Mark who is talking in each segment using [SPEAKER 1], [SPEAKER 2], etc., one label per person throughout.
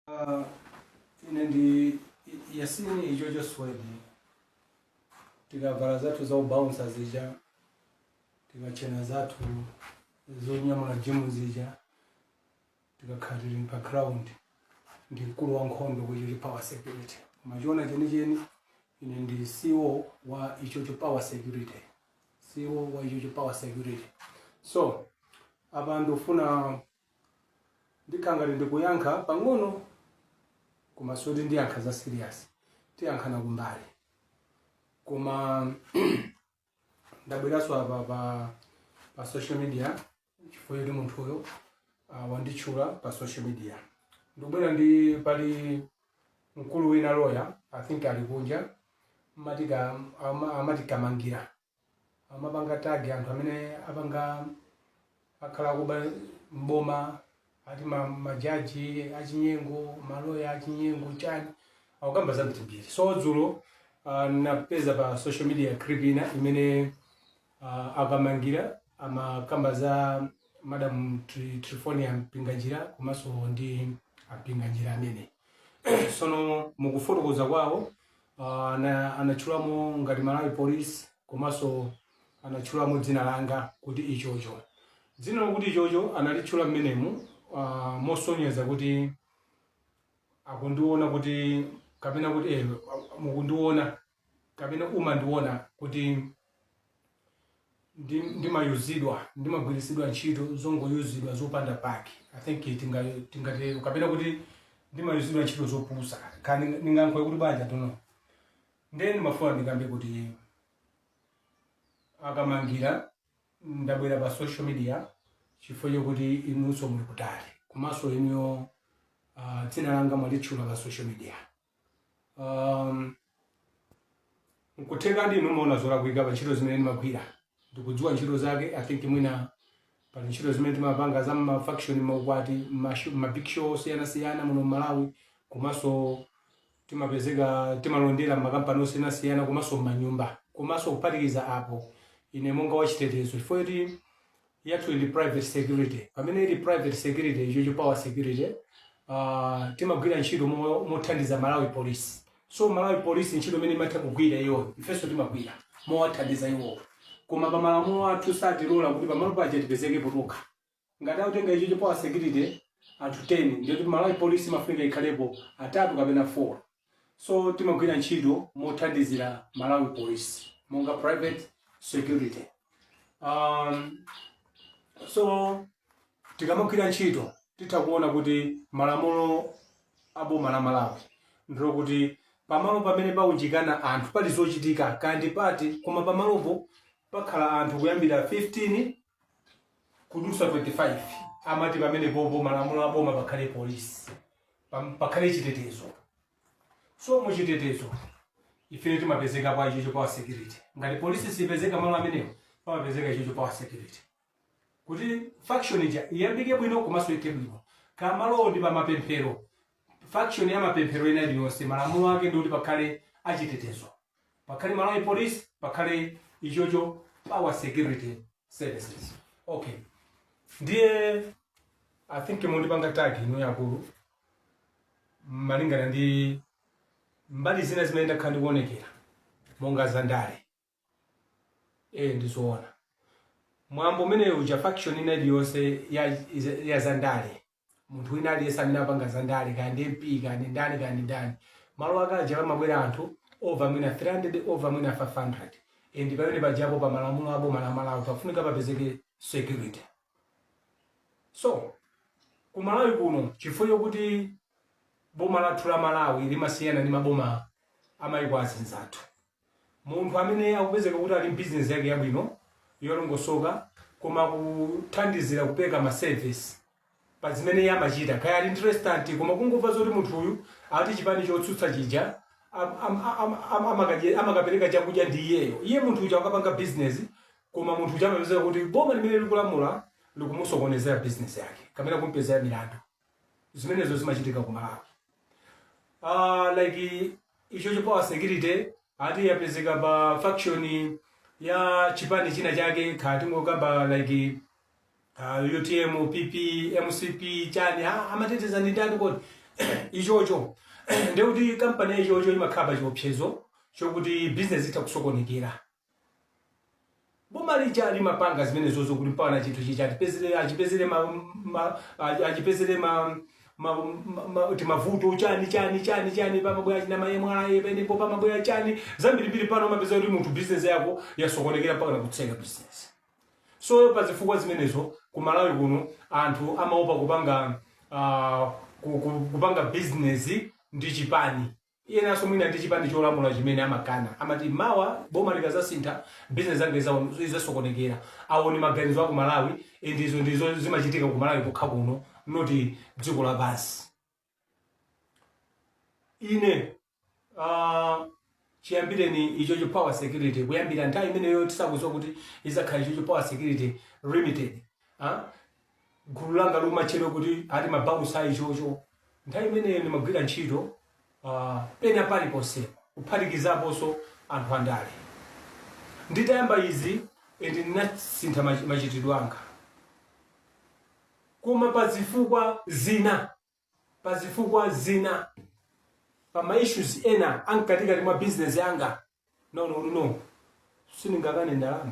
[SPEAKER 1] Uh, ine ndi yasini ichocho swedi tikavala zathu za ubaunsa zija tikatchena zathu zonyamula jimu zija tikakhala tili pa ground ndi mkulu wa nkhondo ku ichocho power security koma chiona chenicheni ine ndi ceo wa ichocho power security so apa ndikufuna Ndikhale ngati ndikuyankha pang'ono komanso kuti ndiyankha za serious. Tiyankhana kumbali. Koma ndabweranso apa pa pa social media chifukwa choti munthuyo uh, wanditchula pa social media. Ndikubwera ndi pali mkulu wina loya I think ali kunja amati ka- ama- amati kamangira amawapanga tag anthu amene apanga akhala akuba mboma ati majaji achinyengo maloya achinyengo chani akukamba za mtimbiri so dzulo uh, napeza pa social media clip ina imene uh, akamangira amakamba za madam triphonia mpinganjira komanso ndi ampinganjira amene sono mukufotokoza kwawo Uh, ana, anatchulamo ngati Malawi Police komanso anatchulamo dzina langa kuti ichocho dzina lokuti ichocho analitchula mmenemu uh, mosonyeza kuti akundiona kuti kapena kuti eh, mukundiona kapena umandiona kuti ndi ndimayuzidwa ndimagwiritsidwa ntchito zongoyuzidwa zopanda pake i think tinga- tingatero kapena kuti ndimayuzidwa ntchito zopusa kani ndingankhoe kuti banja tuno ndiye ndimafuna ndikambe kuti akamangira ndabwera pa social media chifukwa chokuti inunso muli kutali komanso inuyo ah, dzina langa mwalitchula pa social media um, nkutheka ndinu mumaona zolakwika pa ntchito zimene ndimagwira ndikudziwa ntchito zake i think mwina pali ntchito zimene timapanga za mafunction maukwati mashu- mabig show osiyanasiyana muno mmalawi komanso timapezeka timalondera mmakampani osiyanasiyana komanso mmanyumba komanso kuphatikiza apo ine monga wachitetezo chifukwa kuti yathu ili private security pamene ili private security ichocho power security uh, timagwira ntchito mo- mothandiza malawi police so malawi police ntchito imene imatha kugwira iwo ifenso timagwira mowathandiza iwowo koma pa malamulo athu satilola kuti pamalo paja tipezekepo tokha ngati akutenga ichocho power security anthu 10 ndiyoti malawi police imafunika ikhalepo atatu kapena 4 So timagwira ntchito mothandizira Malawi Police monga private security. Um, so tikamagwira ntchito titha kuona kuti malamulo a boma la Malawi ndilo kuti pamalo pamene paunjikana anthu pali zochitika kaya ndi party koma pamalopo pakhala anthu kuyambira 15 kudutsa 25 amati pamenepopo malamulo a boma pakhale polisi pam- pakhale chitetezo so mu chitetezo ifenso timapezekapo ichocho power security ngati polisi sipezeka malo amenewo pamapezeka ichocho power security kuti function ija iyambike bwino komanso ithe bwino kaya malowo ndi pamapemphero function ya mapemphero ina iliyonse malamulo ake ndi kuti pakhale achitetezo pakhale malawi police pakhale ichocho power security services okay ndiye i think mundipanga tag inuyo akulu malingana ndi mbali zina zimene ndakhala ndikuonekera monga za ndale e ndizoona mwambo umenewu uja function ina iliyonse ya, ya za ndale munthu wina aliyense amene apanga za ndale kaya ndi mp kaya ndi ndani kaya ndi ndani malo ake aja pamabwera anthu over mwina 300 over mwina 500 and pamene pajapo pa malamulo a boma la malawi pafunika papezeke security so ku malawi kuno chifukwa chokuti boma lathu la malawi limasiyana ndi maboma amayiko azinzathu Munthu amene akupezeka kuti ali ndi business yake yabwino yolongosoka koma akuthandizira kupeleka ma service pazimene iye amachita kaya ali ndi restaurant koma kungomva zoti munthu uyu ati chipani chotsutsa chija am, am, am, am, amakadye- amakapeleka chakudya ndi iyeyo iye munthu uja akapanga business koma munthu uja amapezeka kuti boma limene likulamula likumusokonezera business yake kapena kumpezera milandu zimenezo zimachitika ku malawi uh, like ichocho power security ati yapezeka pa function ya chipani china chake kaya tingokamba like uh, utm pp mcp chani ah, amateteza ndi ndani kodi ichocho ndekuti kampani ya ichocho imakhala pa chiopsezo chokuti business itha kusokonekera Boma lija limapanga zimenezozo kuti mpakana chinthu chija achipezere achipezere ma, ma, achi- achipezere ma, ma, ma, ma, timavuto chani chani chani chani pamabwera kaya ma MRA penepo pamabwera chani zambirimbiri pano umapeza kuti munthu bizinesi yako yasokonekera mpakana kutseka bizinesi so pa zifukwa zimenezo ku malawi kuno anthu amaopa kupanga uh, kupanga bizinesi ndi chipani enaso mwina ndi chipani cholamula chimene amakana amati mawa boma likazasintha business yake izawo- izasokonekera awo ndi maganizo aku malawi and izo ndiye zimachitika ku malawi kokha kuno noti dziko lapansi ine ah, chiyambireni ichocho power security kuyambira nthawi imeneyo tisakuziwa kuti izakhala ichocho power security limited ah? gulu langa lomatchedwa kuti ati mabausa a ichocho nthawi imeneyo ndimagwira ntchito uh, pena paliponse kuphatikizaponso anthu andale nditayamba izi ende ndinasintha mach- machitidwe anga koma pa zifukwa zina pa zifukwa zina pa ma issues ena amkatikati mwa business yanga ndaona kuti no sindingakane ndalama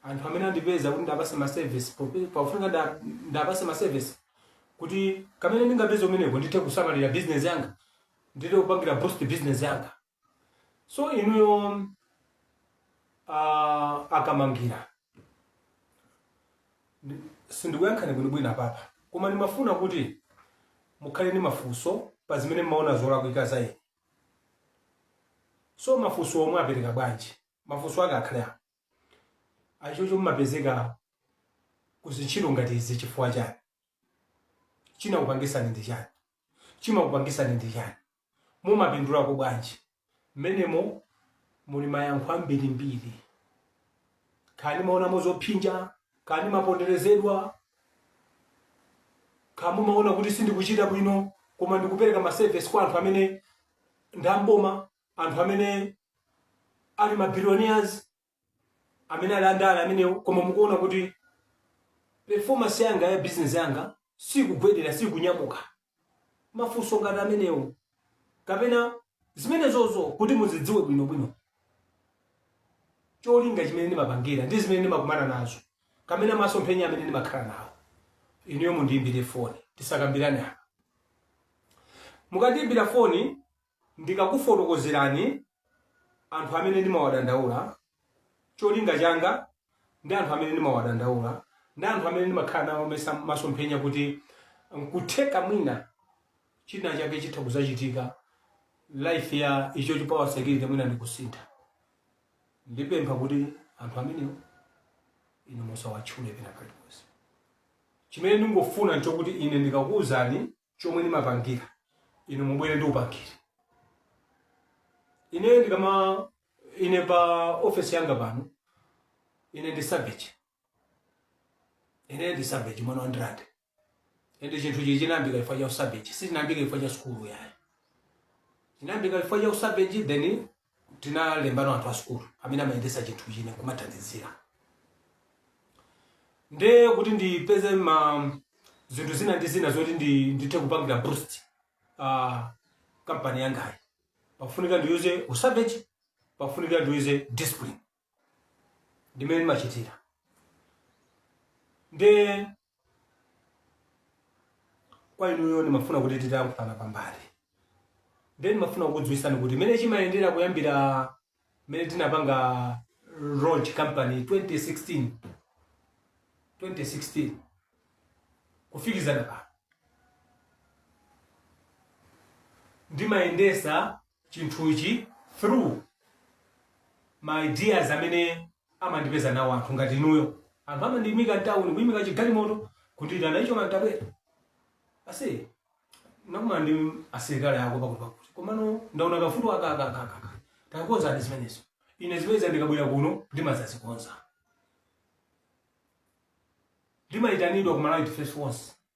[SPEAKER 1] anthu amene andipeza kuti ndapase ma service pope- pakufunika nda- ndapase ma service kuti kamene ndingapeza kumeneko ndithe kusamalira business yanga ndithe kupangira boost business yanga so inuyo ah, akamangira Ndi- sindikuyankhani bwinobwino apapa koma ndimafuna kuti mukhale ni mafunso pa zimene mmaona zolakwika za ine so mafunso omwe apereka bwanji mafunso ake akhale a ichocho mmapezeka ku zintchito ngati izi chifukwa chani chinakupangisani ndi chani chimakupangisani ndi chani mumapindulako bwanji? Mmenemo muli mayankho ambirimbiri. Kaya ndimaonamo zophinja, kaya ndimaponderezedwa, kaya mumaona kuti sindikuchita bwino koma ndikupereka ma service kwa anthu amene ndi a m'boma, anthu amene ali ma billionaires, amene ali andale amenewo koma mukuona kuti performance yanga ya business yanga sikugwedera sikunyamuka mafunso ngati amenewo kapena zimenezozo kuti muzidziwe bwinobwino cholinga chimene ndimapangira ndi zimene ndimakumana nazo kapena masomphenya amene ndimakhala nawo inuyo mundiyimbire foni tisakambirane apa mukandiyimbira foni Ndikakufotokozerani anthu amene ndimawadandaula, cholinga changa ndi anthu amene ndimawadandaula ndi anthu amene ndimakhala nawo maso- masomphenya kuti nkutheka mwina china chake chitha kuzachitika life ya Ichocho Power Security mwina ndikusintha. Ndipempha kuti anthu amenewo inu musawatchule pena paliponse. Chimene ndingofuna nchokuti ine ndikakuuzani chomwe ndimapangira inu mubwere ndikupangireni ine ndikama ine pa ofesi yanga pano ine ndi savage ine ndi savage mwana wa ndirande ende chinthu chichi chinayambika chifukwa cha usavage sichinayambika chifukwa cha sukulu yayi chinayambika chifukwa cha usavage then tinalembano anthu a sukulu amene amayendesa chinthuchi ine kumathandizira nde kuti ndipeze ma zinthu zina ndi zina zoti ndi- ndithe kupangira boost uh, kampani yangayi pafunika ndiyuze usavage pafunika ndiyuze discipline ndimene ndimachitira nde kwa inuyo ndimafuna kuti titayankhulana pambali nde ndimafuna kukudziwisani kuti mmene chimayendera kuyambira mmene tinapanga launch company 2016 kufikizana pano ndimayendesa chinthuchi through ma ideas amene amandipeza nawo anthu ngati inuyo anthu amandiyimika mtawuni kuyimika chigalimoto kundiitana ichocho man tabwera ase nakumana ndi asilikali ako pakuti pakuti komano ndaona kavuto aka aka aka takonza zimenezo ine zimenezo ndikabwera kuno ndimazazikonza ndimayitanidwa ku malawi defense force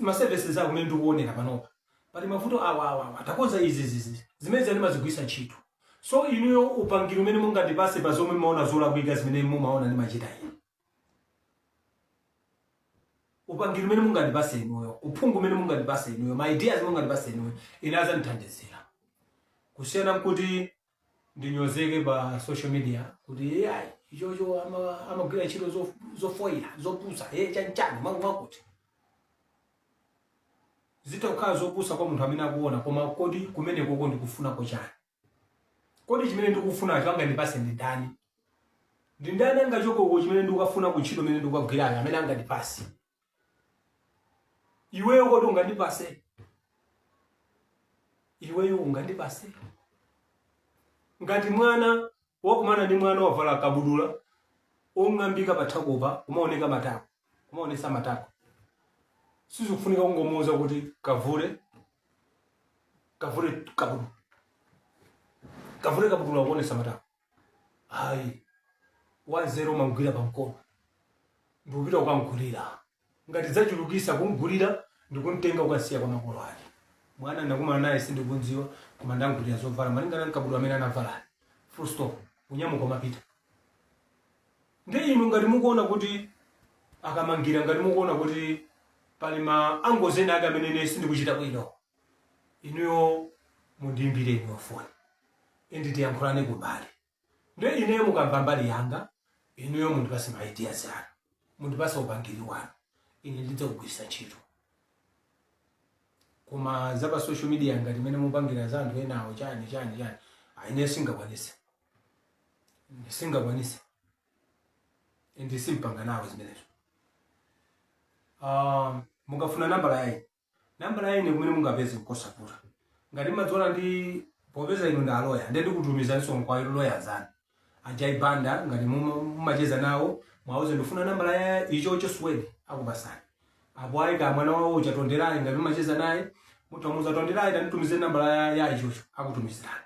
[SPEAKER 1] ma services ako mmene ndikuonera panopa pali mavuto awa awa awa takonza izi izi izi zimenezo ndimazigwiritsa ntchito so inuyo upangiri umene mungandipase pa zomwe mumaona zolakwika zimene mumaona ndimachita ine upangiri umene mungandipase inuyo uphungu umene mungandipase inuyo ma ideas mungandipase inuyo ine azandithandizira kusiyana nkuti ndinyozeke pa social media kuti yayi ichocho ama- amagwira ntchito zo- zofoira zopusa e chanchani mwakuti mwakuti zitha kukhala zopusa kwa munthu amene akuona koma kodi kumenekoko ndikufunako chiyani kodi chimene ndikufunacho angandipase ndi ndani ndi ndani angachotseko chimene ndikukafuna ku ntchito imene ndikukagwirayo amene angandipase iweyo kodi ungandipase iweyo ungandipase ngati mwana wakumana ndi mwana wavala kabudula ong'ambika pathakupa kumaoneka matako kumaonesa matako sizikufunika kungomuuza kuti kavule kavule kabudula kavule kabudula kuonesa matako ayi wanzeru umamgwira pamkono ndikupita kukamgulira ngati zachulukisa kumgulira ndikumtenga kukasiya kwa makolo ake mwana ndakumana naye sindikunziwa koma ndamgulira zovala malingana nkabudula amene anavala full stop unyamuka umapita nde inu ngati mukuona kuti akamangira ngati mukuona kuti pali ma angles ena ake amene ine sindikuchita bwino inuyo mundiimbire inuyo foni indi tiyankhulane kumbali nde ineyo mukamva mbali yanga inuyo mundipase ma ideas anu mundipase upangiri wanu ine ndidzakugwirisa ntchito koma za pa social media ngati imene mupangira za anthu enawo chani chani chani ayi ine singakwanise singakwanise indi simpanga nawo zimenezo um, mukafuna nambala ya ine Nambala ya ine komwe mungapeze nkosavuta. Ngati mmadziona ndi popeza inu ndi a lawyer ndiye ndikutumizaninso kwa lawyer anzanu. A Jai Banda ngati mumacheza nawo mwauze ndikufuna nambala ya ichocho suwedi akupasani. Apo ayi kaya mwana wawo uja Tonderai ngati mumacheza naye mutha kumuza Tonderai tanditumizire nambala ya ya ichocho akutumizirani.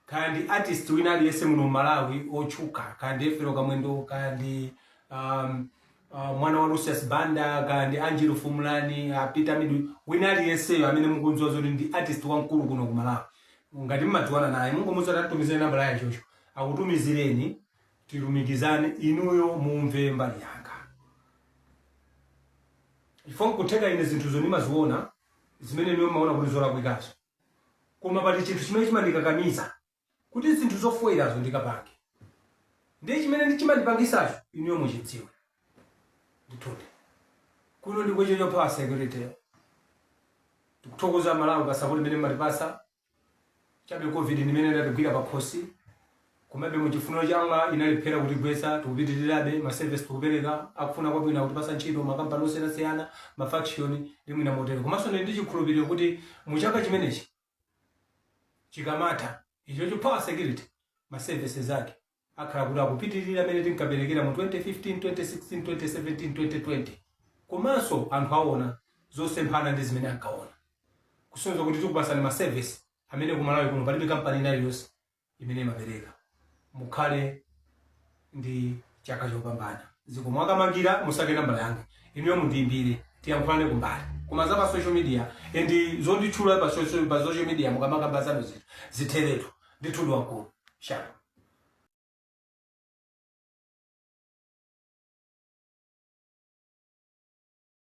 [SPEAKER 1] kaya ndi artist wina aliyense muno mmalawi otchuka kaya ndi efero kamwendo kaya ndi um, uh, mwana wa lucius banda kaya ndi angelo fumulani uh, peter midu wina aliyenseyo amene mukunziwa zoti ndi artist wamkulu kuno ku malawi ngati mmadziwana naye mungomuza kuti atumizire nambala ya ichocho akutumizireni tilumikizane inuyo mumve mbali yanga if nkutheka ine zinthuzo ndimaziona zimene inuyo mmaona kuti zolakwikazo Koma pali chinthu chimene chimandikakamiza kuti zinthu zofoirazo ndikapange. Ndiye chimene chimandipangisacho inuyo muchidziwe. Ndithudi. Kuno ndi kwa ichocho power security. Tikuthokoza Malawi pa support imene mmatipasa. Chabe Covid ndi imene idatigwira pakhosi. Komabe mu chifuniro cha Allah inalephera kutigwetsa, tikupitilirabe, ma service tikupereka, akufuna kwabwino akutipatsa ntchito, ma company osiyanasiyana, ma function ndi mwina motero. Komanso ndili ndi chikhulupiliro kuti mu chaka chimenechi chikamatha ichocho power security ma services ake akhala kuti akupitilira mene tinkaperekera mu 2015, 2016, 2017, 2020. Komanso anthu awona zosemphana ndi zimene ankawona. Kusonyeza kuti tikupatsani ma service amene ku Malawi kuno palibe company ina iliyonse imene imapereka. Mukhale ndi chaka chopambana. Zikomo akamangira musake nambala yanga inuyo mundiimbire tiyankhulane kumbali koma za pa social media and zonditchula pa social, pa social media mukamakamba zanu zinthu zitheretu ndithudi wankulu shalom